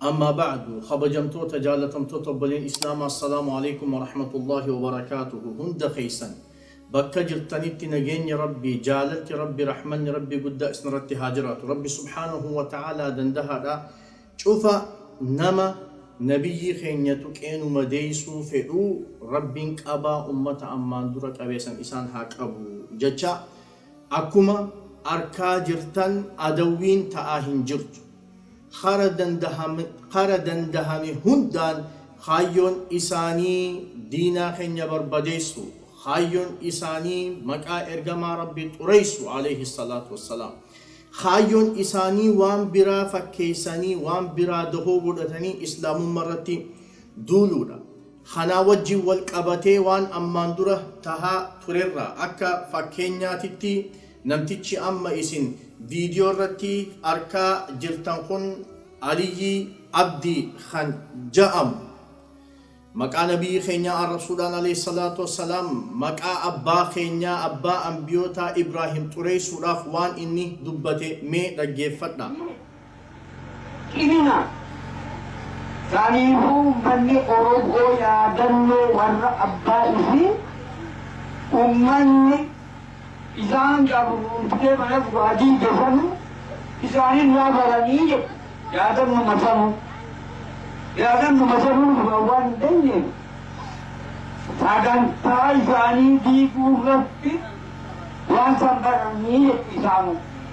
Ammaa ba'adu, kabajamtoota, jaalatamtoota obboleen Islaamaa Assalaamu Aleeykum Warahmatullaahi Wabarakaatuhu hunda keessan bakka jirtanitti nageenyi Rabbii, jaalalti Rabbii, rahmanni Rabbii guddaa isnirratti haa jiraatu. Rabbi subhaanahu wa ta'aalaa dandahaadha. Cufa nama Nabiyyii keenya tuqee nu madeeysuu fedhu Rabbiin qabaa ummata ammaan dura qabee san isaan haa qabu jachaa, akkuma arkaa jirtan adawwiin ta'aa hin jirtu. Kara dandahame hundaan kaayyoon isaanii diinaa keenya barbadeessuu, kaayyoon isaanii maqaa ergamaa Rabbii xureessuu, aleyhi salaatu wa salaam. Kaayyoon isaanii waan biraa fakkeessanii, waan biraa dahoo godhatanii Islaamummarratti duuluudha. Kanaa wajjin wal qabatee waan ammaan dura tahaa turerraa akka fakkeenyaatitti namtichi amma isin viidiyoo irratti arkaa jirtan kun Aliyyii Abdii kan ja'amu maqaa Nabiyyii keenyaa arrabsuudhaan aleyh salaatu wassalaam maqaa abbaa keenyaa abbaa anbiyootaa Ibraahim xureeysuudhaaf waan inni dubbate mee dhaggeeffadhaa. Cimina! Saniifuu ummanni Oromoo yaadannoo warra abbaa isii ummanni isaan gabroomsee mana guraa diige sanu isaanirraa baranii jedhu yaadannuma sanu yaadannuma sanuu dura waan hin dandeenye sagantaa isaanii diiguu irratti waan san baranii jedhu isaanuu.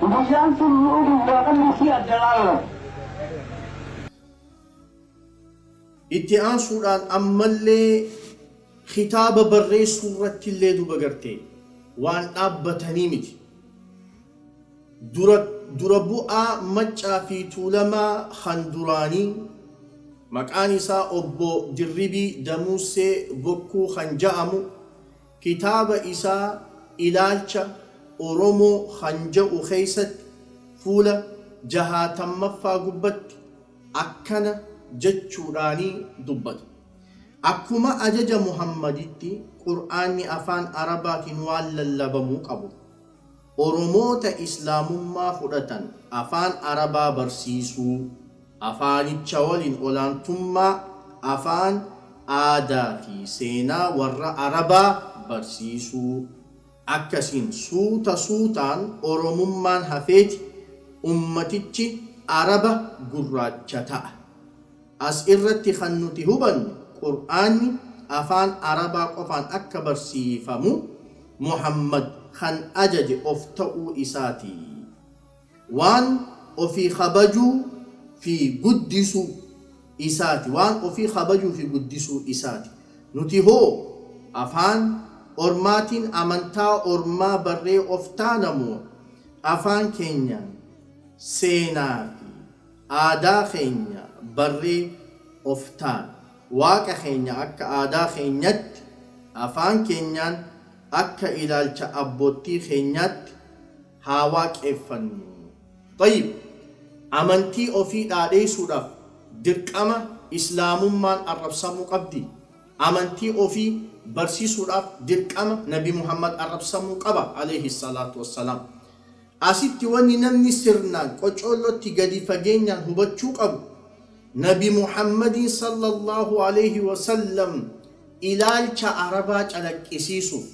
Guyyaan tulluu gubbaadha murtii adda laallata. Itti aansuudhaan ammallee kitaaba barreessuurrattillee duba gartee waan dhaabbatanii miti. Dura dura bu'aa Maccaa fi Tuulamaa kan duraanii maqaan isaa obbo Dirribii Damuussee Bokkuu kan ja'amu Kitaaba isaa Ilaalcha Oromoo kan ja'u keessatti fuula jahaatammaffa gubbatti akkana jechuudhaan dubbata. Akkuma ajaja Muhammaditti Qur'aanni afaan Arabaatiin waan lallabamuu qabu. Oromoota Islaamummaa fudhatan Afaan Arabaa barsiisuu, afaanicha waliin olaantummaa afaan, aadaa fi seenaa warra Arabaa barsiisuu, akkasiin suuta suutaan Oromummaan hafeeti ummatichi Araba gurraacha ta'a. As irratti kan nuti hubannu Qur'aanni afaan Arabaa qofaan akka barsiifamu Muhammad kan ajaje of ta'uu isaati. Waan ofii kabajuu fi guddisuu isaati, waan ofii kabajuu fi guddisuu isaati. Nuti hoo afaan ormaatiin amantaa ormaa barree of taana moo afaan keenyaan seenaa fi. Aadaa keenya barree of taan. Waaqa keenya akka aadaa keenyatti, afaan keenyaan, akka ilaalcha abboottii keenyaatti haa waaqeeffannu. Xayyib! Amantii ofii dhaadheessuudhaaf dirqama Islaamummaan arrabsamuu qabdi? Amantii ofii barsisuudhaaf dirqama Nabi Muhammad arrabsamuu qaba, aleyhi salaatu wassalaam? Asitti wanni namni sirnaan, qocoollootti, gadi fageenyaan hubachuu qabu, Nabi Muhammadiin sallallaahu aleeyhi wasallam ilaalcha Arabaa calaqqisiisuuf,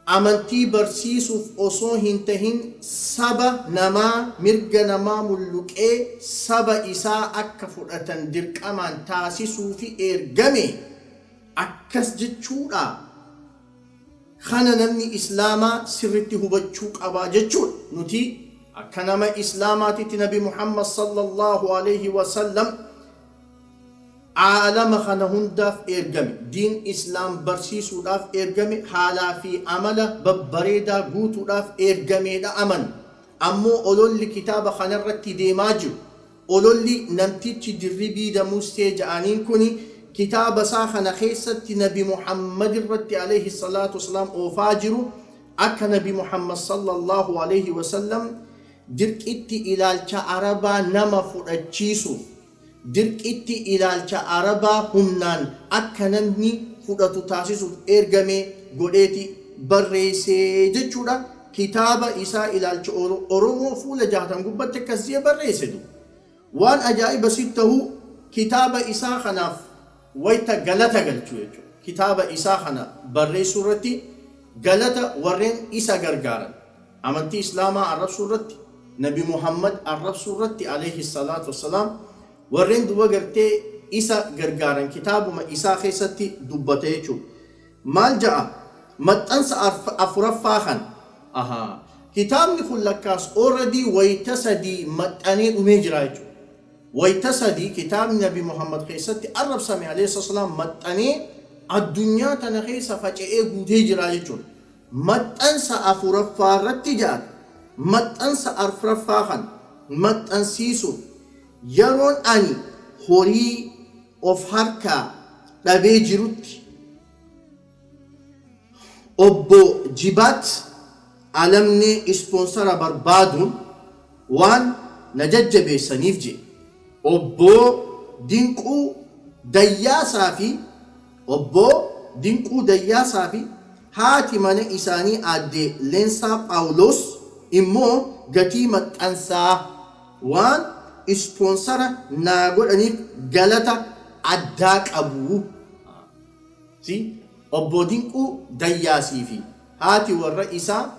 amantii barsiisuuf osoo hin tahin saba namaa mirga namaa mulluqee saba isaa akka fudhatan dirqamaan taasisuufi eergame. Akkas jechuudhaa? Kana namni islaamaa sirritti hubachuu qaba jechuudha. Nuti akka nama islaamaatitti nabi Muhammad sallallahu aleyhi wa sallam aalama kana hundaaf ergame, diin islaam barsiisuudhaaf ergame, haalaa fi amala babbareedaa guutuudhaaf ergameedha amanna. Ammoo ololli kitaaba kanarratti deemaa jiru, Ololli namtichi Dirribii Damussee ja'aniin kuni kitaaba isaa kana keessatti nabi Muhammad irratti aleyhi salaatu wasalaam oofaa jiru akka nabi Muhammad sallallaahu aleyhi wasallam dirqitti ilaalcha Arabaa nama fudhachiisu dirqitti ilaalcha Arabaa humnaan akka namni fudhatu taasisuuf eergame godheeti barreeyse jechuudha. Kitaaba isaa Ilaalcha Oromoo fuula 60 gubbatti akkas je'e barreesse du. Waan ajaa'iba sitti tahu kitaaba isaa kanaaf wayta galata galchu jechu kitaaba isaa kana barreessuu irratti galata warreen isa gargaaran amantii islaamaa arrabsuu irratti nabi Muhammad arrabsuu irratti aleyhi salaatu wassalaam warreen duba gartee isa gargaaran kitaabuma isaa keessatti dubbata jechu Maal ja'a? Maxxansa afuraffaa kana. Ahaa. Kitaabni kun lakkaas already wayta sadii maxxanee dhumee jira jechuudha. Wayta sadii kitaabni Nabi Muhammad keessatti arrabsame alayhi salaatu wassalaam maxxanee addunyaa tana keessa faca'ee guutee jira jechuudha. Maxxansa afuraffaa irratti ja'a. Maxxansa arfraffaa kana maxxansiisuuf yeroon ani horii. of harkaa dhabee jirutti Obbo Jibaat Alamnee ispoonsara barbaaduun waan na jajjabeessaniif jedhe. Obbo Dinquu Dayyaasaa fi Obbo Dinquu Dayyaasaa fi haati mana isaanii Aadde Leensaa Phaawuloos immoo gatii maxxansaa. Waan ispoonsara naa godhaniif galata addaa qabu. See Obboo Dinquu Dayyaasii fi haati warra isaa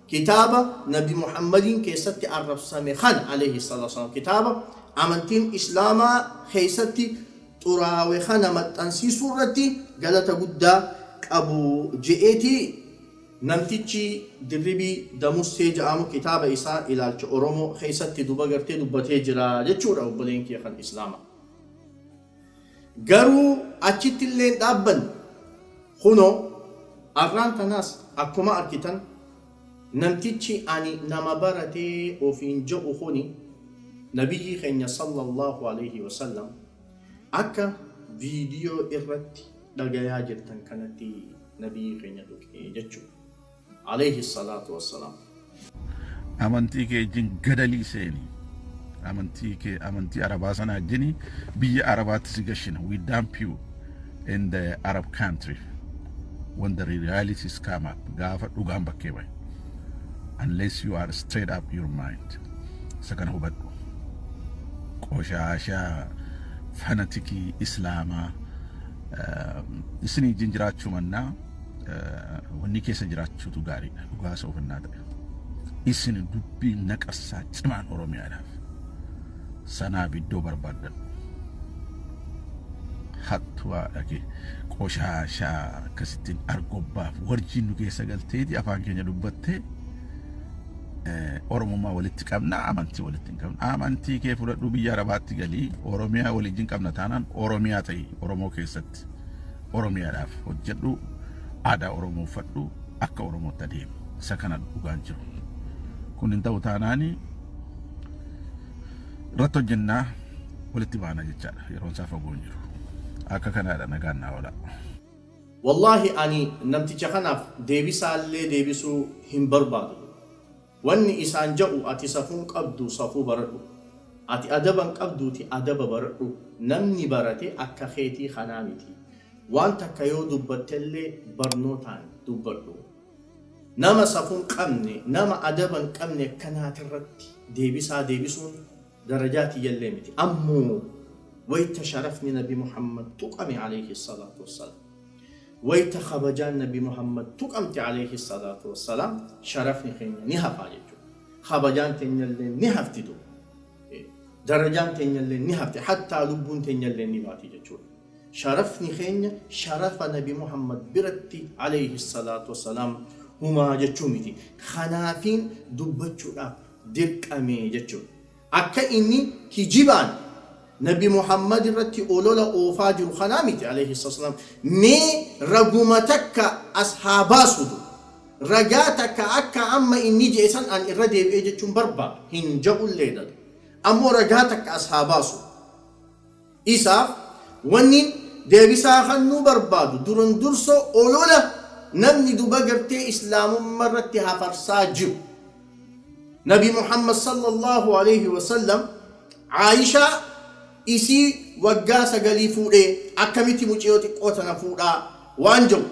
kitaaba Nabi Muhammadiin keessatti arrabsame kana, Aleyhi Salaatu Wa Salaam, kitaaba amantiin Islaamaa keessatti xuraawe kana maxxansiisuu irratti galata guddaa qabu je'eeti. Namtichi Dirribii Damussee ja'amu kitaaba isaa Ilaalcha Oromoo keessatti duba gartee dubbatee jira jechuudha obboleen kiyya kan Islaamaa. Garuu achitti illee hin dhaabbanne. Kunoo arraan tanaas akkuma arkitan namtichi ani nama barate ofiin ja'u kuni Nabiyyii keenya Sallallaahu Aleeyhi Wasallam akka viidiyoo irratti dhagayaa jirtan kanatti Nabiyyii keenya tuqi jechuu. Aleyhi salaatu wassalaam. Amantii kee ijjin gadalii seeni amantii kee amantii arabaa sana ijjini biyya arabaatti si gashina we dump you in the arab country when the realities come up gaafa dhugaan bakkee bahe unless you are straight up your mind isa kana hubadhu qoshaashaa fanatikii islaamaa Isinii wajjin jiraachuu mannaa wanni keessa jiraachuutu gaariidha dhugaa soofannaa ta'e. Isin dubbii naqassaa cimaan Oromiyaadhaaf sanaaf iddoo barbaaddadhu. Hattuu haadha kee qoshaashaa akkasittiin argobbaaf warjiin nu keessa galteeti afaan keenya dubbattee Oromummaa walitti qabna amantii walitti hin qabna. Amantii kee fudhadhuu biyya arabaatti galii Oromiyaa waliin qabna taanaan Oromiyaa ta'i Oromoo keessatti. Oromiyaadhaaf hojjedhu aadaa Oromoo uffadhu akka Oromootti adeemu. Isa kana dhugaan jiru. Kun hin ta'u taanaanii irratti hojjennaa walitti baana jechaadha. Yeroon isaa fagoo hin jiru. Akka kanaadha nagaan naa oolaa. Wallahi ani namticha kanaf deebisaallee deebisuu hin barbaadu wanni isaan ja'u ati safuun qabdu safuu baradhu ati adaban qabduuti adaba baradhu namni barate akka keetii kanaa miti waan takka yoo dubbattellee barnootaan dubbadhu nama safuun qabne nama adaban qabne akkanaatirratti deebisaa deebisuun darajaa tiyyallee miti. Ammoo wayta sharafni nabi Muhammad tuqame aleyhi salaatu wassalaam, wayta kabajaan nabi Muhammad tuqamte aleyhi salaatu wassalaam sharafni keenya ni hafaa jechuudha. Kabajaan tenyalleen ni hafti duuba. Darajaan tenyalleen ni hafti hattaa lubbuun tenyalleen ni baati jechuudha. Sharafni keenya sharafa nabi Muhammad biratti aleyhi salaatu wassalaam humaa jechuu miti. Kanaafiin dubbachuudhaaf dirqame jechuudha. Akka inni kijibaan Nabi Muhammad irratti olola oofaa jiru kanaa miti aleyhi salatu wasalaam. Mee raguma takka as haa baasutu. Ragaa takka akka amma inni je'e san an irra deebi'ee jechuun barbaadu. Hin ja'ullee laal. Ammoo ragaa takka as haa baasutu. Isaaf wannin deebisaa kannuu barbaadu duran durso olola namni duba gartee islaamumma irratti hafarsaa jiru nabi muhammad sallallahu aleyhi wasallam aishaa isii waggaa sagalii fuudhee akkamiti muciyoo xiqqoo tana fuudhaa waan ja'u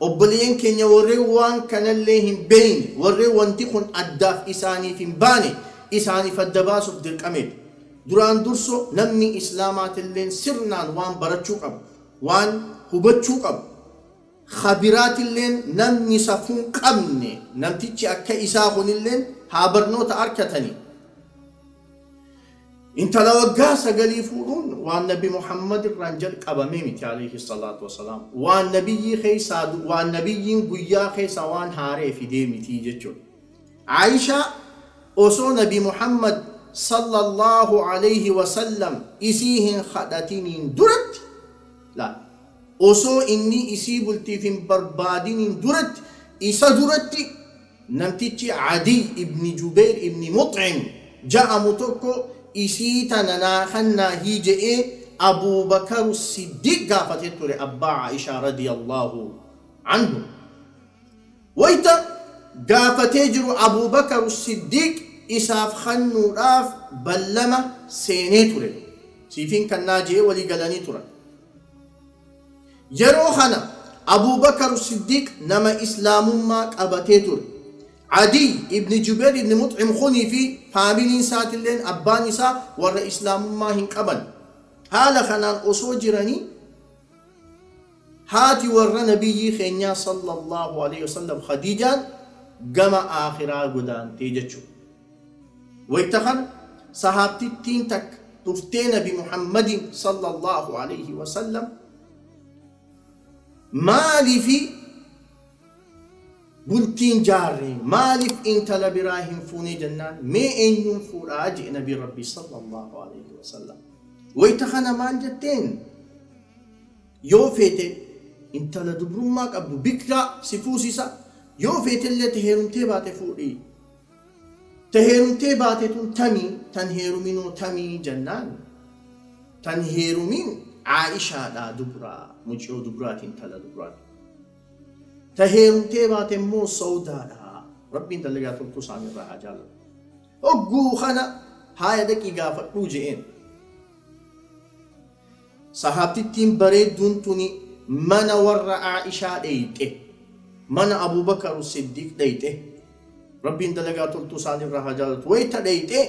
obboleyan keenya warren waan kanallee hin beyne warren wanti kun addaaf isaaniif hin baane isaaniif adda baasuf dirqameeti Duraan durso namni Islaamaatilleen sirnaan waan barachuu qabu, waan hubachuu qabu, kha biraatilleen namni safuun qabne namtichi akka isaa kunilleen haa barnoota arkatanii. Intala waggaa sagalii fuudhuun waan nabi Muhammad irraan jalqabamee miti aleyhi salaatu wa salaam. Waan nabiyyii keessaa waan nabiyyiin guyyaa keessa waan haaree fidee mitii jechuudha. Aa'ishaa, Osoo Nabi Muhammad, Sallallaahu aleyhi wa sallam, isii hin khadhatiniin duratti, laal, osoo inni isii bultiif hin barbaadiniin duratti, isa duratti namtichi Adiy ibn Jubeyr ibn Mux'im ja'amu tokko isii tana naa khannaahi je'ee Abuu Bakaru Siddiiq gaafatee ture, abbaa Aa'ishaa radiyallaahu anhu. Wayta gaafatee jiru Abuu Bakar Siddiiq isaaf kannuudhaaf ballama seenee ture. Siifin kannaa je'ee walii galanii turan. Yeroo kana Abuu Bakar Siddiiq nama Islaamummaa qabatee ture. Adiyy ibn Jubayr ibn Mux'im kunii fi faamiliin isaatilleen abbaan isaa warra Islaamummaa hin qaban. Haala kanaan osoo jiranii. Haati warra Nabiyyii keenyaa sallallaahu aleeyhi wasallam Khadiijaan gama Aakhiraa godaantee jechuudha. Wayta kana Sahaabtittiin takka dhuftee Nabi Muhammadiin sallallaahu aleeyhi wasallam Maaliifi bultii hin jaarre? Maaliif intala biraa hin fuune jennaan mee eenyuun fuudha? je'e Nabiin Rabbii sallallaahu aleeyhi wasallam. Wayta kana maal jetteen? Yoo feete intala dubrummaa qabdu, bikraa, si fuusisa, yoo feetellee ta heerumtee baate fuudhi. Ta heerumtee baate tun tami, tan heeruminoo tami jennaan, tan heerumin Aa'ishaadha, dubra, muciyoo dubraati, intala dubraati. Ta heerumtee baate immoo Sawdaadha. Rabbiin dalagaa toltuu isaanii irraa haa jaalatu. Hogguu kana haaya dhaqii gaafadhuu je'een. Sahaabtittiin bareedduun tuni mana warra Aa'ishaa dheyxe. Mana Abuu Bakaru Siddiiq dheyxe. Rabbiin dalagaa toltuu isaanirraa haa jaalatu. Wayta dheyxe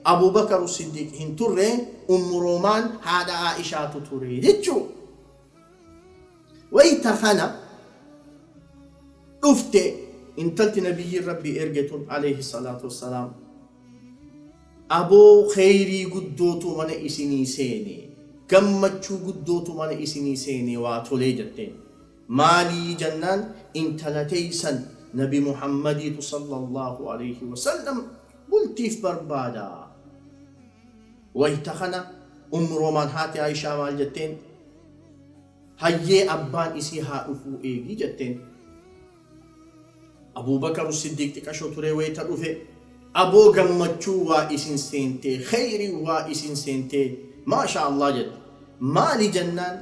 Abuu Bakaru Siddiiq hin turre, Ummu Roomaan haadha Aa'ishaatu ture jechu'u. Wayta kana dhufte intalti Nabiyyiin Rabbii erge tun, aleyhi salaatu wassalaam. Aboo keyrii guddootu mana isinii seene gammachuu guddootu mana isinii seene waa tolee jetteen maalii jennaan intala teeysan nabi muhammadiitu sallallaahu aleyhi wasallam bultiif barbaada wayta kana ummu roomaan haati aayishaa maal jetteen hayyee abbaan isii haa dhufuu eegi jetteen. Abuubakaru Siddiiq xiqasho turee wayta dhufe Aboo gammachuu waa isin seentee kheeyriin waa isin seentee maashaa Allah jette maali jennaan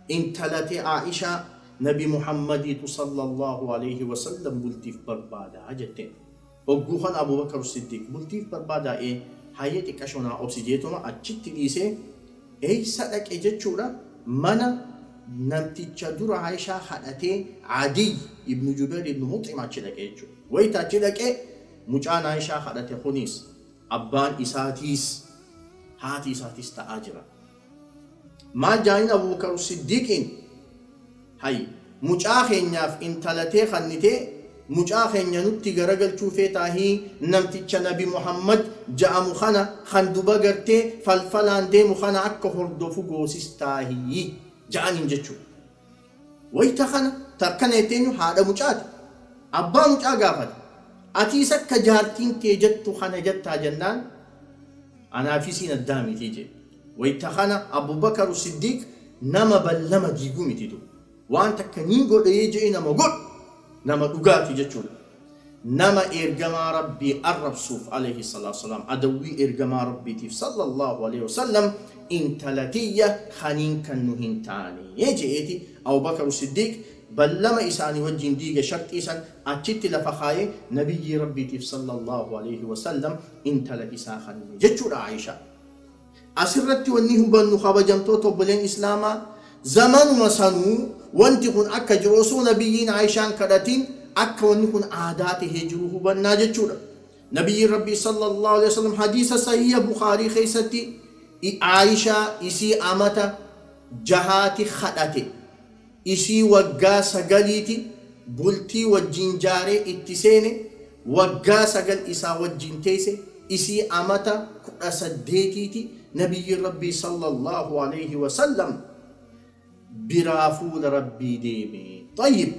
intala tee Aa'ishaa nabi Muhammadiitu sallallahu aleyhi wasallam bultiif barbaada jetteen. Hogguu kana Abuu Bakar Siddiiq, Bultiif barbaadaa'ee, Hayyee xiqqashoo naa obsi jeetuma achitti dhiisee, Eeysa dhaqe jechuudha? Mana namticha dura Aa'ishaa kadhatee Adiy ibnu Jubeyr ibnu Mux'im achi dhaqe jechuudha. Wayta achi dhaqe, mucaan Aa'ishaa kadhate kuniis, abbaan isaatiis, haati isaatiis ta'aa jira. Maal jaaniin Abuubakar Siddiiqiin? Hay! Mucaa keenyaaf intala tee kannitee, mucaa keenya nutti garagalchuu feetaahii namticha Nabi Muhammad ja'amu kana kan duba gartee falfalaan deemu kana akka hordofu goosistaahii? ja'aniin jechuudha. Wayta kana ta akkana jette eenyu? Haadha mucaati. Abbaa mucaa gaafate. Atiis akka jaartiin tee jettu kana jettaa jennaan, anaa fi isiin addaa miti jee. Wayta kana Abu Bakaru Siddiiq nama ballama diigu miti du. Waan takka nin godha jee nama godhu nama dhugaati jechuudha. Nama Eergamaa Rabbii arrabsuuf, Aleyhi salaatu wasalaam, adawwii Eergamaa Rabbiitiif, Sallallaahu aleyhi wasallam, intala tiyya kaniin kannu hin taane je'eeti, Abu Bakru Siddiiq ballama isaanii wajjiin diige, sharxii san achitti lafa kaaye, Nabiyyii Rabbiitiif, Sallallaahu aleyhi wasallam, intala isaa kanne jechuudha, Aa'ishaa. Asirratti wanni hubannu kabajamtoota obboleen Islaamaa zamanuma sanuu wanti kun akka jiru osoo Nabiyyiin Aa'ishaa hin kadhatin akka wanni kun aadaa tahee jiru hubannaa jechuudha. Nabiyyiin Rabbii sallallaahu aleyhi wasallam hadiisa sahiiha Bukhaarii keessatti Aa'ishaa isii amata jahaati kadhate. Isii waggaa sagaliiti bultii wajjiin jaaree itti seene waggaa sagal isaa wajjiin teeyse isii amata kudha saddeetiiti nabiyyiin rabbii sallallaahu aleeyhi wasallam biraa fuula rabbii deeme. Xayyib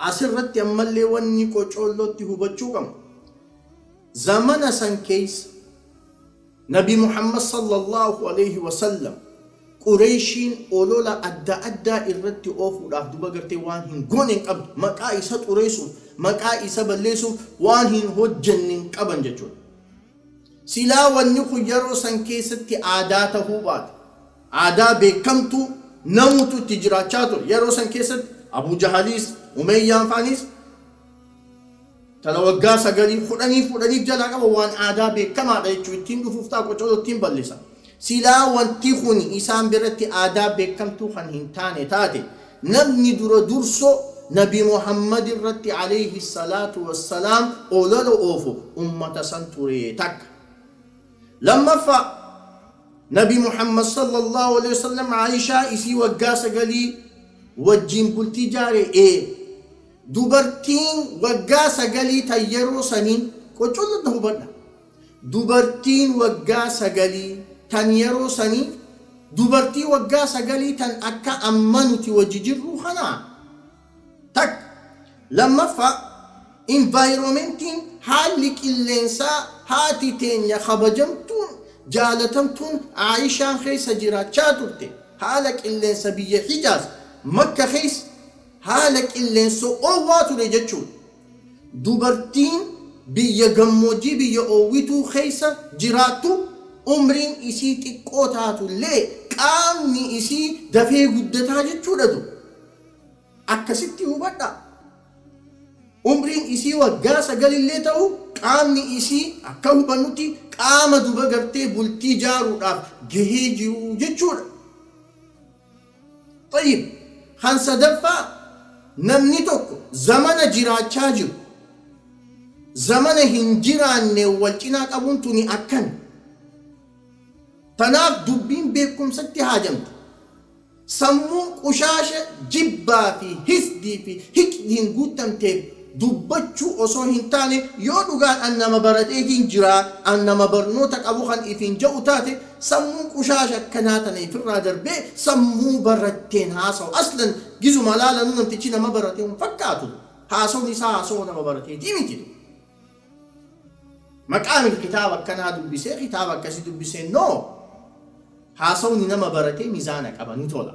asirratti ammallee wanni qocoollootti hubachuu qabnu zamana san keeysa. Nabi Muhammad sallallaahu aleeyhi wasallam Qureeyshiin olola adda addaa irratti oofuudhaaf duba gartee waan hin goone hin qabdu. Maqaa isa xureeysuuf, maqaa isa balleeysuuf waan hin hojjenne hin qaban jechuudha. Silaa wanni kun yaroo san keeysatti aadaa tahuu baate, aadaa beekkamtuu namuutu itti jiraachaa ture. Yaroo san keeysatti Abuu Jahaliis, Umeeyyaan faaniis Tana waggaa sagalii, kudhanii fuudhanii if jalaa qaban waan aadaa beekamaadha jechuu ittiin dhufuuf ta'a qocoloo ittiin ballisa. Silaa wanti kuni isaan biratti aadaa beekamtuu kan hin taane taate namni dura dursoo nabi Muhammad irratti aleyhi salaatu wassalaam olola oofu ummata san ture takka. Lammaffaa nabi Muhammad sallallahu aleyhi wasallam Aishaa isii waggaa sagalii wajjiin bultii jaare ee. Dubartiin waggaa sagalii tan yeroo sanii, qoccollo na hubadha, dubartiin waggaa sagalii tan yeroo sanii, dubartii waggaa sagalii tan akka amma nuti wajji jirruu kanaa? Takka. Lammaffaa, environmentiin, haalli qilleensaa, haati teenya kabajamtuun, jaalatamtuun Aa'ishaan keessa jiraachaa turte, haala qilleensa biyya Hijaaz, Makka keessa, Haala qilleensa oowwaa ture jechuun dubartiin biyya gammoojjii biyya oowwituu keessa jiraattu umriin isii xiqqoo taatu illee qaamni isii dafee guddataa jechuudha du Akkasitti hubadhaa. Umriin isii waggaa sagal illee ta'u qaamni isii akka hubannutti qaama duba gartee bultii jaaruudhaaf gahee jiru jechuudha. Xayyib, kan sadaffaa, namni tokko zamana jiraachaa jiru zamana hin jiraanneen wal cinaa qabuun tuni akkami? Tanaaf dubbiin beekkumsatti haajamti. Sammuun qushaasha jibbaa fi hisdii fi hiqdiin guuttamteef. dubbachuu osoo hin taane yoo dhugaan an nama barateetiin jira, an nama barnoota qabu kan ifiin ja'u taate sammuun qushaasha akkanaa tana ifirraa darbee sammuu baratteen haasawa. Aslan gizuma laalanuu namtichi nama barate hin fakkaatu. Haasawni isaa haasawa nama barateetii miti. Maqaamil kitaaba akkanaa dubbisee kitaaba akkasii dubbisee no! Haasawni nama baratee mizaana qaba ni tola.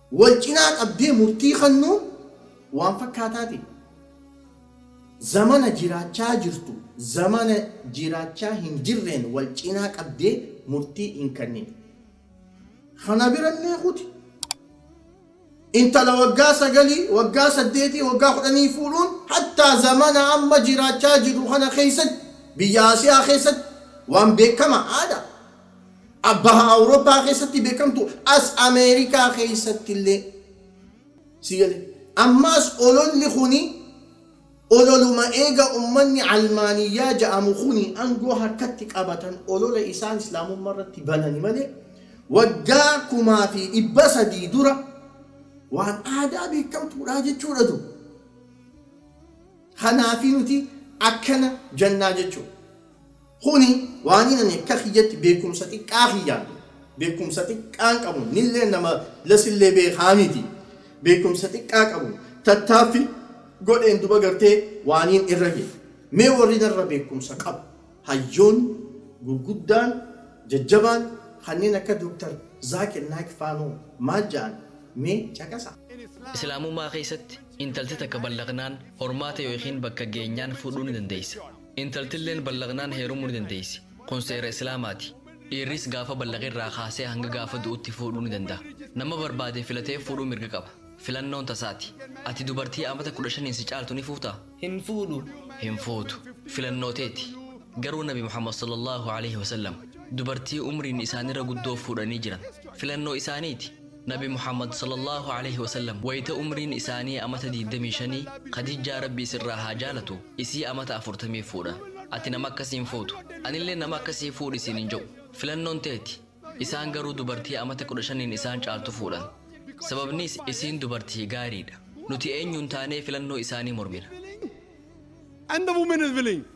wal cinaa qabdee murtii kannuun waan fakkaataati. Zamana jiraachaa jirtu zamana jiraachaa hin jirreen wal cinaa qabdee murtii hin kannin. Kana bira illee kuti. Intala waggaa sagalii, waggaa saddeetii, waggaa kudhanii fuudhuun hattaa zamana amma jiraachaa jirru kana keessatti biyya Asiyaa keessatti waan beekama, aadaa. a Baha Awurooppaa keessatti beekamtu as Ameerikaa keessatti illee si gale. Ammaas ololli kuni ololuma eega ummanni Almaaniyyaa ja'amu kuni angoo harkatti qabatan olola isaan Islaamumma irratti banani malee waggaa kumaa fi dhibba sadii dura waan aadaa beekamtuudhaa jechuudha du. Kanaafi nuti akkana jannaa jechuudha. Kuni waaniin ani akka kiyyatti beekkumsa xiqqaa kiyyaan, beekkumsa xiqqaan qabuun, innillee nama lasillee beekaa miti, beekkumsa xiqqaa qabuun tattaaffi godheen duba gartee waaniin irra gahe. Mee warri narra beekkumsa qabu, hayyoonni gurguddaan, jajjabaan kanneen akka Dr. Zaakir Naayik faanoo maal ja'an mee caqasaa. Islaamummaa keessatti intalti takka ballaqnaan, hormaata yookiin bakka geenyaan fuudhuu ni dandeessa. Intaltilleen ballaqnaan heerumuu ni dandeessi. Kun seera Islaamaati. Dhiirris gaafa ballaqe irraa kaasee hanga gaafa du'utti fuudhuu ni danda'a. Nama barbaade filatee fuudhuu mirga qaba. Filannoon tasaati. Ati dubartii amata 15n si caaltu ni fuutaa? Hin fuudhu. Hin fuutu. Filannoo teeti. Garuu Nabi Muhammad sallallaahu aleyhi wasallam dubartii umriin isaanirra guddoo fuudhanii jiran. Filannoo isaaniiti. Nabi Muhammad sallallaahu aleyhi wasallam wayta umriin isaanii amata diigdamii shanii Khadijjaa Rabbii sirraa haa jaalatu isii amata afurtamiif fuudhan. Ati nama akkasii hin fuutu. Anillee nama akkasii fuudhi siin hin ja'u. Filannoon teeti. Isaan garuu dubartii amata kudha shaniin isaan caaltu fuudhan. Sababniis isiin dubartii gaariidha. Nuti eenyuun taanee filannoo isaanii mormina.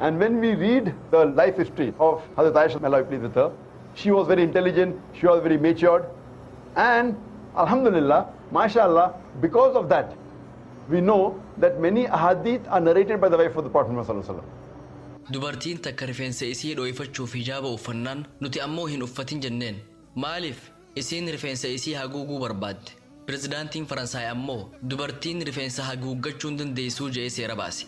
And when we read the life history of Hazrat Aisha, may Allah be pleased with her, she was very intelligent, she was very matured, and Alhamdulillah, mashallah, because of that, we know that many ahadith are narrated by the wife of the Prophet Muhammad sallallahu alaihi wasallam. Dubartiin takka rifeensa isii dhooyfachuuf hijaaba uffannaan nuti ammoo hin uffatin jenneen. Maaliif? Isiin rifeensa isii haguuguu barbaadde. Pirezidaantiin Faransaay ammoo dubartiin rifeensa haguuggachuu hin dandeessuu je'ee seera baase.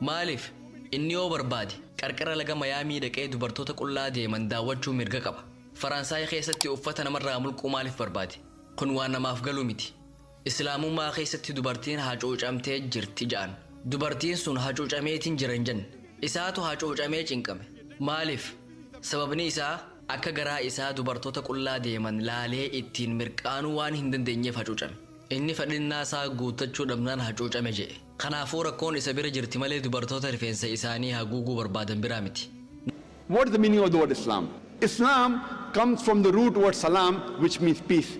Maaliif? Inni yoo barbaade qarqara laga Mayaamii dhaqee dubartoota qullaa deeman daawwachuu mirga qaba. Faransaay keessatti uffata namarraa mulquu maaliif barbaade? Kun waan namaaf galu miti. Islaamummaa keessatti dubartiin hacuucamtee jirti ja'an. Dubartiin sun hacuucameetiin jira hin jenne. Isaatu hacuucamee cinqame. Maaliif? Sababni isaa akka garaa isaa dubartoota qullaa deeman laalee ittiin mirqaanuu waan hin dandeenyeef hacuucame. Inni fedhinnaa isaa guuttachuu dhabnaan hacuucame je'e. Kanaafuu rakkoon isa bira jirti malee dubartoota rifeensa isaanii haguuguu barbaadan biraa miti. What is the meaning of the word Islam? Islam comes from the root word Salaam which means peace.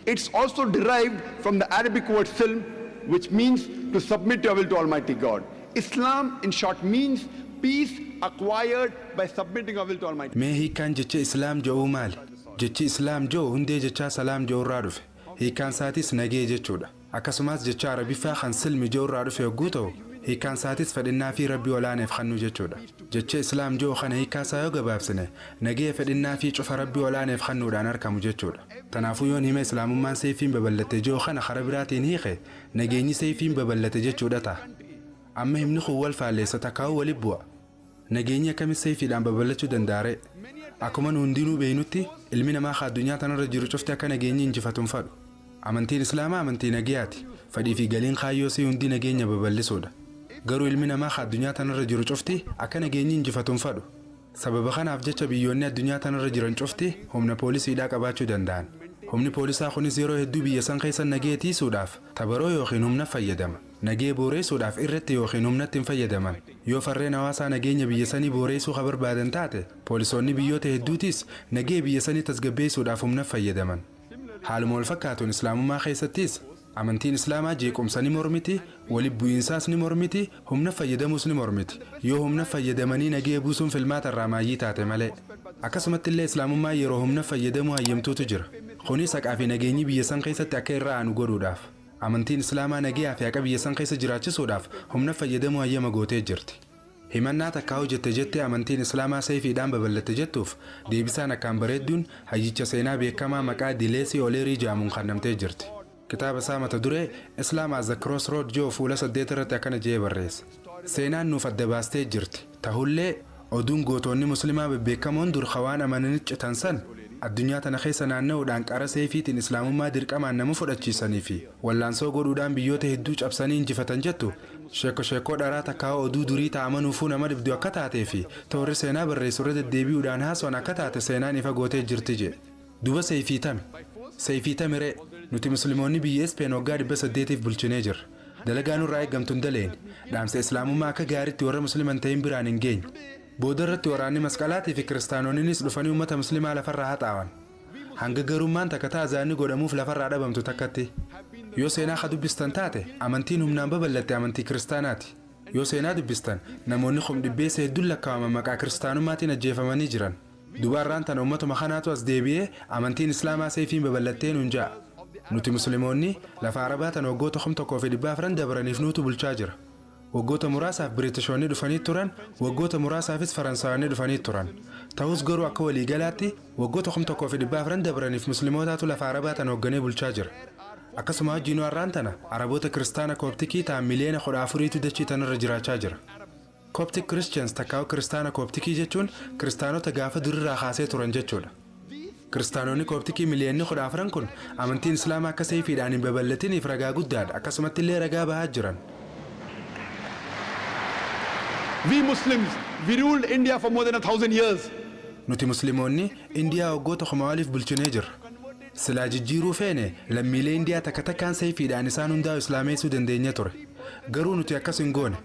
It is also derived from the Arabic word Silm which means to submit your will to Almighty God. Islam in short means peace acquired by submitting our will to Almighty Mee God. hiikkaan jecha Islaam je'uu maali? Jechi Islaam je'u hundee jechaa Salaam je'urraa dhufe. Hiikkaansaatiis nagee jechuudha. Akkasumaas jechaa Arabiffaa kan silm je'u irraa dhufe hogguu ta'u, hiikkaan isaatis fedhinnaafii Rabbii ol'aaneef kannuu jechuudha. Jecha Islaam je'u kana hiikkaa isaa yoo gabaabsine, nageya fedhinnaafii cufa Rabbii ol'aaneef kannuudhaan arkamu jechuudha. Tanaafuu yoon hima Islaamummaan seeyfiin babal'atte je'u kana karaa biraatiin hiike, nageenyi seeyfiin babal'ate jechuudha taha. Amma himni kun wal faalleessa takkaahuu wali bu'a. Nageenyi akkamitti sayfiidhaan babal'achuu danda'a ree? Akkuma nu hundinuu beeknutti, ilmi namaa ka addunyaa tanarra jiru cufti akka nageenyi injifatu hin fadhu. Amantiin Islaamaa amantii nageyaati. Fadhii fi galiin kaayyoo isii hundi nageenya babal'isuudha. Garuu ilmi namaa ka addunyaa tanarra jiru cufti akka nageenyi injifatu hin fadhu. Sababa kanaaf jecha biyyoonni addunyaa tanarra jiran cufti humna poolisiidhaa qabaachuu danda'an. Humni poolisaa kunis yeroo hedduu biyya san keessa nageya tiisuudhaaf tabaroo ykn humna fayyadama. nagee booreessuudhaaf irratti ykn humnatti hin fayyadaman. Yoo farreen hawaasaa nageenya biyya sanii booreessuu ka barbaadan taate, poolisoonni biyyoota hedduutiis nagee biyya sanii tasgabbeessuudhaaf humnaf fayyadaman. Haaluma wal fakkaatuun Islaamummaa keessattiis, amantiin Islaamaa jeequmsa ni mormiti, wali bu'iinsaas ni mormiti, humnaf fayyadamuus ni mormiti, yoo humnaf fayyadamanii nagee buusuun filmaata irraa maayyii taate malee. Akkasumattillee Islaamummaan yeroo humnaf fayyadamuu hayyamtuutu jira. Kuniis haqaa fi nageenyi biyya san keessatti akka irra aanu godhuudhaaf. Amantiin Islaamaa nageyaa fi haqa biyya san keessa jiraachisuudhaaf humna fayyadamuu hayyama gootee jirti. Himannaa takkaa hojette jettee amantiin Islaamaa seeyfiidhaan babal'atte jettuuf deebisaan akkaan bareedduun hayyicha seenaa beekkamaa maqaa Dileesii Oleerii ja'amuun kannamtee jirti. Kitaaba isaa mata duree Islam as a Crossroad je'u fuula 8 irratti akkana je'ee barreesse, Seenaan nuuf adda baastee jirti. Tahullee, oduun gootoonni Muslimaa bebbeekamoon dur ka waan amananitti citan san, addunyaa tana keessa naanna'uudhaan qara seeyfiitiin Islaamummaa dirqamaan nama fudhachiisanii fi wallaansoo godhuudhaan biyyoota hedduu cabsanii injifatan jettu, sheekko sheekkoo dharaa takkaahuu oduu durii ta amanuufuu nama dhibdu akka taatee fi ta warri seenaa barreessu irra deddeebi'uudhaan haaso'an akka taate seenaan ifa gootee jirti jedhe. Duba Seyfii tami? Seyfii tami ree? Nuti Muslimoonni biyya Ispeen waggaa 800f bulchinee jirra. Dalagaa nurraa eeggamtu hin daleeyne. Dhaamsa Islaamummaa akka gaariitti warra Muslima hin tahin biraan hin geenye. Booda irratti waraanni Masqalaatii fi Kiristaanooniniis dhufanii ummata Muslimaa lafarraa haxaawan. Hanga garuummaan takka ta azaanni godhamuuf lafarraa dhabamtu takkatti. Yoo seenaa ka dubbistan taate, amantiin humnaan babal'atte amantii Kiristaanaati. Yoo seenaa dubbistan, namoonni kumdhibbeessa hedduun lakkaawaman maqaa Kiristaanummaatiin ajjeefamanii jiran. Duba arraan tana ummatuma kanaatu as deebi'ee amantiin Islaamaa seeyfiin babal'attee nuun ja'a. Nuti Muslimoonni lafa Arabaa tana waggoota 1400 dabraniif nuutu bulchaa jira. Waggoota muraasaaf Biriitishoonni dhufaniit turan, waggoota muraasaafis Faransaayoonni dhufaniit turan. Tahus garuu akka walii galaatti waggoota 1400 dabraniif Muslimootaatu lafa Arabaa tana hogganee bulchaa jira. Akkasuma wajjiinuu arraan tana Araboota Kiristaana Kooptikii tahan miliyoona 14tu dachii tanarra jiraachaa jira. Coptic Christians takkaa'u Kiristaana Kooptikii jechuun Kiristaanota gaafa durirraa kaasee turan jechuudha. Kiristaanonni Kooptikii miliyoonni 14n kun amantiin Islaamaa akka seeyfiidhaan hin babal'atiniif ragaa guddaadha, akkasumatti illee ragaa bahaa jiran. We Muslims, we ruled India for more than a thousand years. Nuti Muslimoonni Indiyaa waggoota kumaa oliif bulchinee jirra. Silaa jijjiiruu feene, lammiilee Indiyaa takka takkaan seeyfiidhaan isaan hundaa'u Islaameessuu dandeenyee ture. Garuu nuti akkas hin goone.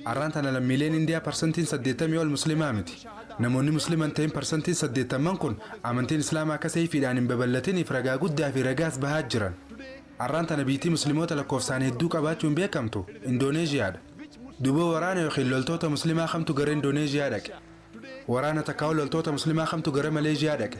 Arraan tana lammiileen Indiyaa parsantiin saddeettamii ol muslimaa miti. Namoonni muslima hin ta'in parsantiin saddeettamman kun amantiin Islaamaa akka seeyfiidhaan hin babal'atiniif ragaa guddaa fi ragaas bahaa jiran. Arraan tana biyytii muslimoota lakkoofsaan hedduu qabaachuun beekamtu Indooneezhiyaa dha. Duuba waraana ykn loltoota muslimaa kamtu gara Indooneezhiyaa dhaqe? Waraana takkaahuu loltoota muslimaa kamtu gara Maleezhiyaa dhaqe?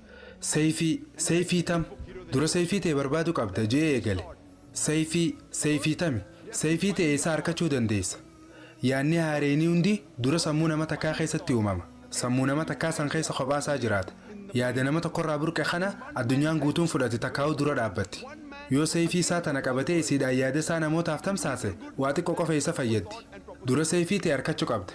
Sayfii, Sayfii tam? Dura Sayfii tee barbaadu qabda je'ee eegale. Sayfii, Sayfii tami? Sayfii tee eessaa arkachuu dandeessa? Yaanni haareyni hundi dura sammuu nama takkaa keessatti uumama. Sammuu nama takkaa san keessa kophaa isaa jiraata. Yaada nama tokkorraa burqe kana addunyaan guutuun fudhati takkaahuu dura dhaabbatti. Yoo Sayfii isaa tana qabatee isiidhaan yaada isaa namootaaf tamsaase waa xiqqo qofa isa fayyaddi. Dura Sayfii tee arkachu qabda.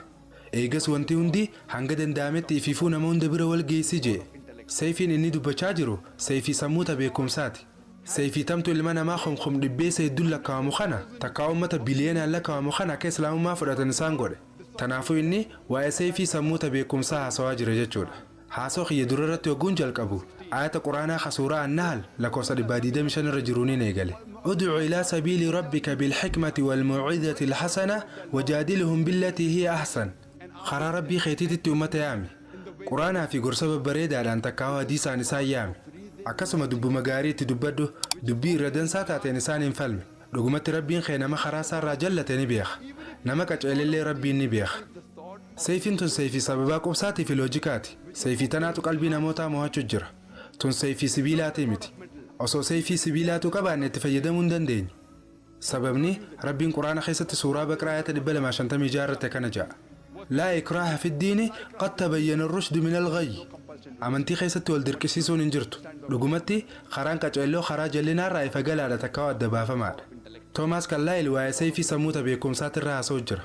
Eegas wanti hundi hanga danda'ametti ifiifuu nama hunda bira wal geessi je'e. Seyfiin inni dubbachaa jiru seyfii sammuu ta beekkomsaati. Seyfii tamtu ilma namaa komkom dhibbeessa hedduun lakkaawamu kana takkaa ummata biliyoonaan lakkaawamu kana akka Islaamummaa fudhatan isaan godhe. Tanaafuu inni waa'ee seyfii sammuu ta beekkomsaa haasawaa jira jechuudha. Haasawa kiyya dura irratti hogguun jalqabu, aayata Qur'aanaa ka suuraa An-Nahl lakkoofsa 125 irra jiruuniin eegale. Ud'u ilaa sabiili rabbika bil-hikmati wal-maw'idhatil hasanah wajaadilhum billatii hiya ahsan. Karaa Rabbii keetiititti ummata yaami. Qur'aanaa fi gorsa babbareedaadhaan takkaahuu hadiisaan isaan yaami. Akkasuma dubbuma gaarii itti dubbadhu, dubbii irra dansaa taateen isaaniin falmi. Dhugumatti Rabbiin kee nama karaa isaa irraa jallate ni beekha. Nama qaceelellee Rabbiin ni beekha. Seyfiin tun seyfii sababaa qubsaatii fi loojikaati. Seyfii tanaatu qalbii namootaa moohachu jira. Tun seyfii sibiilaatii miti. Osoo seyfii sibiilaatuu qabaanne itti fayyadamuu hin dandeenyu. Sababni, Rabbiin Qur'aana keessatti suuraa Baqraa aayata 256 irratti akkana ja'a, Laa ikraaha fi ddiini qad tabayyana ar-rushdu min al-ghayyi. Amantii keessatti wal dirqisiisuun hin jirtu. Dhugumatti, karaan qaceelloo karaa jallinaa irraa ifa galaadha takkaahuu adda baafamaadha. Toomaas Karlaayil waa'ee seyfii samuuta beekkumsaatirra haasa'u jira.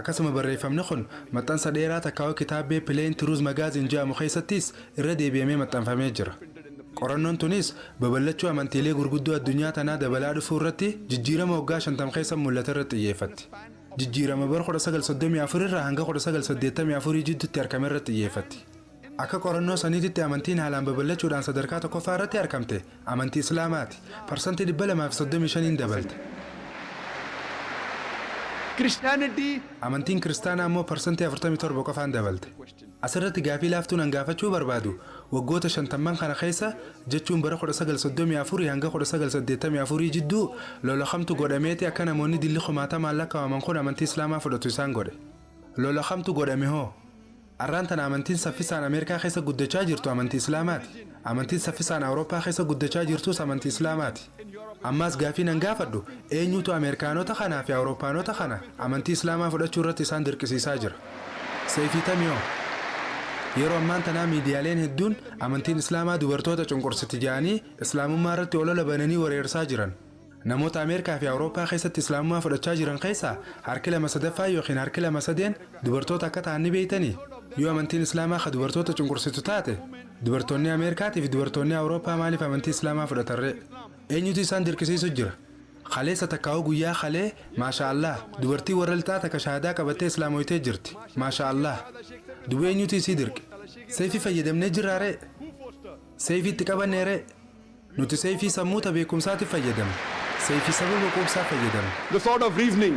Akkasuma barreeffamni kun maxxansa dheeraa takkaawaa kitaabbee Plain Truth Magazine je'amu keessattiis irra deebi'amee maxxanfamee jira. Qorannoon tuniis baballachuu amantiilee gurguddoo addunyaa tanaa dabalaa dhufuu irratti jijjiirama waggaa 50 keessa mullate irratti xiyyeeffatti. Jijjiirama bara 1934 irraa hanga 1984 jiddutti arkame irratti xiyyeeffatti. Akka qorannoo saniititti amantiin haalaan babal'achuudhaan sadarkaa tokkoffaa irratti arkamte amantii Islaamaati. Parsantii 235n dabalte. Christianity. Amantiin Kiristaanaa ammoo parsantii 47 qofaan dabalte. Asirratti gaafii laaftuun an gaafachuu barbaadu, waggoota shantamman kana keessa, jechuun bara 1934 hanga 1984 jidduu, lola kamtu godhameeti akka namoonni dilli kumaatamaan lakkawaman kun amantii Islaamaa fudhatu isaan godhe? Lola kamtu godhame hoo? Arraan tana amantiin saffisaan Ameerikaa keessa guddachaa jirtu amantii Islaamaati. Amantiin saffisaan Awurooppaa keessa guddachaa jirtuus amantii Islaamaati. Ammaas gaaffiin an gaafadhu, eenyuutu Ameerikaanota kanaa fi Awurooppaanota kana amantii Islaamaa fudhachuu irratti isaan dirqisiisaa jira? Seyfii Tamiyoo, Yeroo ammaan tanaa miidiyaaleen hedduun amantiin Islaamaa dubartoota cunqursiti jedhanii Islaamummaa irratti olola bananii wareersaa jiran. Namoota Ameerikaa fi Awurooppaa keessatti Islaamummaa fudhachaa jiran keessaa harki lama sadaffaan ykn harki lama sadeen dubartoota akka ta'an ni beektanii? Yoo amantiin Islaamaa ka dubartoota cunqursitu taate, dubartoonni Ameerikaatii fi dubartoonni Awurooppaa maaliif amantii Islaamaa fudhatan ree? Eenyutu isaan dirqisiisu jira? Kaleessa takkaahuu guyyaa kalee, Maashaa Allaah, dubartiin warra Lixaa takka shahaadaa qabattee Islaamoytee jirti. Maashaa Allaah. Duba eenyutu isii dirqe? Seeyfii fayyadamnee jirraa ree? Seeyfii itti qabannee ree? Nuti Seeyfii sammuuta beekumsaatiif fayyadamna. Seeyfii sababa quubsaa fayyadamna. The sword of reasoning.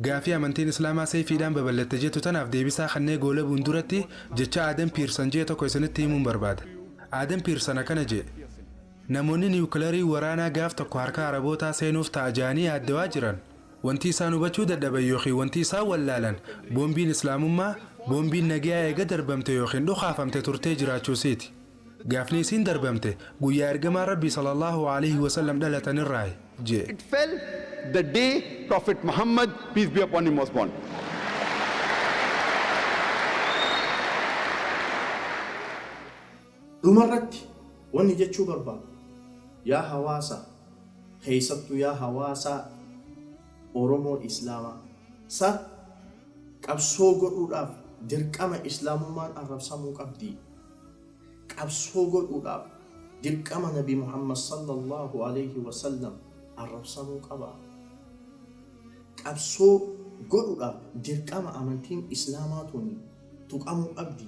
Gaafii amantiin Islaamaa Seeyfiidhaan babal'atte jettu tanaaf deebisaa kannee goolabuun duratti jecha Aadam Piirsan je'e tokko isinitti himuun barbaada. Aadam Piirsan akkana je'e, Namoonni Niwukilarii waraanaa gaaf tokko harka Arabootaa seenuuf ta'a ja'anii yaaddawaa jiran, Wanti isaan hubachuu dadhaban ykn wanti isaan wallaalan boombiin Islaamummaa, boombiin nageeyaa eega darbamtee ykn dhukaafamte turtee jiraachuu isiiti. Gaafni isiin darbamte guyyaa Ergamaan Rabbii sallallaahu aleeyhi wasallam dhalatan irraayi. J. It fell the day Prophet Muhammad, peace be upon him, was born. Dhuma irratti wanni jechuu barbaadu yaa hawaasa keessattuu yaa hawaasa Oromoo Islaamaa sa qabsoo godhuudhaaf dirqama Islaamummaan arrabsamuu qabdi. Qabsoo godhuudhaaf dirqama Nabi Muhammad sallallaahu aleeyhi wa sallam arrabsamuu qaba. Qabsoo godhudhaaf dirqama amantiin Islaamaa tuni tuqamuu qabdi.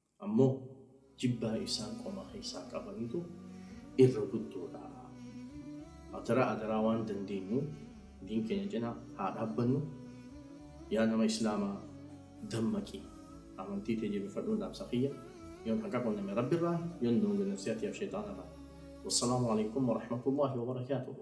Ammoo jibbaa isaan qomaa keessaa qabanitu irra guddoodha. Adaraa adaraa waan dandeenyu diin keenya cina haa dhaabbannu. Yaa nama islaamaa dammaqi amantii tee jabefadhun dhaamsa kiyya. Yoon haqa qunname rabbi irraa yoon doonge nafsiyaa tiyaaf sheyxaana irraa. Wassalaamu aleykum warahmatullaahi wabarakaatuhu.